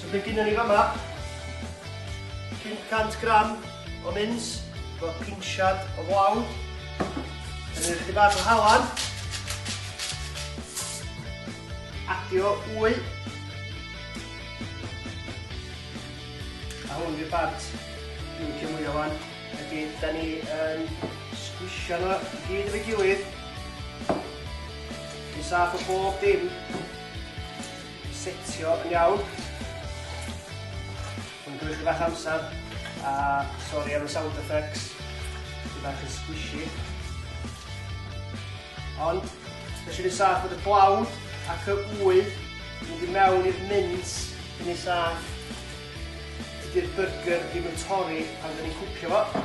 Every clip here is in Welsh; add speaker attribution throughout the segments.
Speaker 1: So be gynnon ni fama? 500 gram o mins, bod pinsiad o flawd. Yn yr ychydig bach o halan. Adio wy. A hwn i'r bant. Dwi'n licio mwy o fan. Ydy, da ni yn sgwisio nhw i gyd efo'i gilydd. Yn saff o bob dim. setio yn iawn. Mae'n gymryd chydig bach amser, a sori am y sound effects, sy'n bach yn squishy. Ond, nes i'n ei saff bod y blawd ac y ŵydd yn mynd i mewn i'r mints yn ei saff. Dydy'r burger ddim yn torri pan dyn ni'n cwcio fo.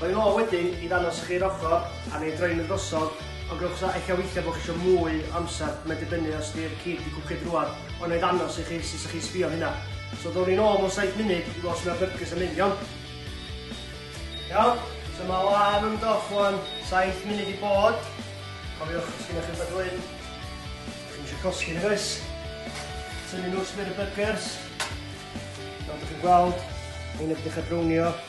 Speaker 1: Rwy'n ôl wedyn i ddangos chi'r ochr a neu droi'n y drosodd, ond gwnewch os a ella weithiau bod chi eisiau mwy o amser, mae'n dibynnu os di'r cig wedi cwced rwan, ond na i ddangos i chi sut sa chi'n sbio am hynna. So ddown ni'n ôl mewn saith munud i weld sut mae'r byrgys yn mynd, iawn? Iawn, so mae o am ymdoch rwan, saith munud i bod. Cofiwch, os gennych chi'n rhywbeth dwyn, ydych chi'n eisiau cosgi nag oes? Tynnu nhw sbir y byrgys. Fel ydych chi'n gweld, ein ydych ar brownio,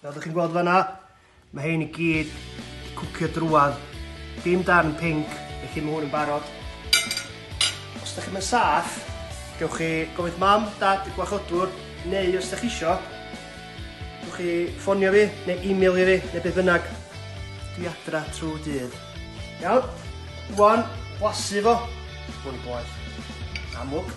Speaker 1: Fel ydych chi'n gweld fanna, mae hyn i gyd wedi cwcio drwad. Dim darn pink, felly mae hwn yn barod. Os ydych chi'n saff, gewch chi gofyd mam, dad, y gwachodwr, neu os ydych chi isio, gewch chi ffonio fi, neu e-mail i fi, neu beth bynnag. Dwi adra trwy dydd. Iawn, rwan, blasu fo. Hwn i boeth. Amlwg.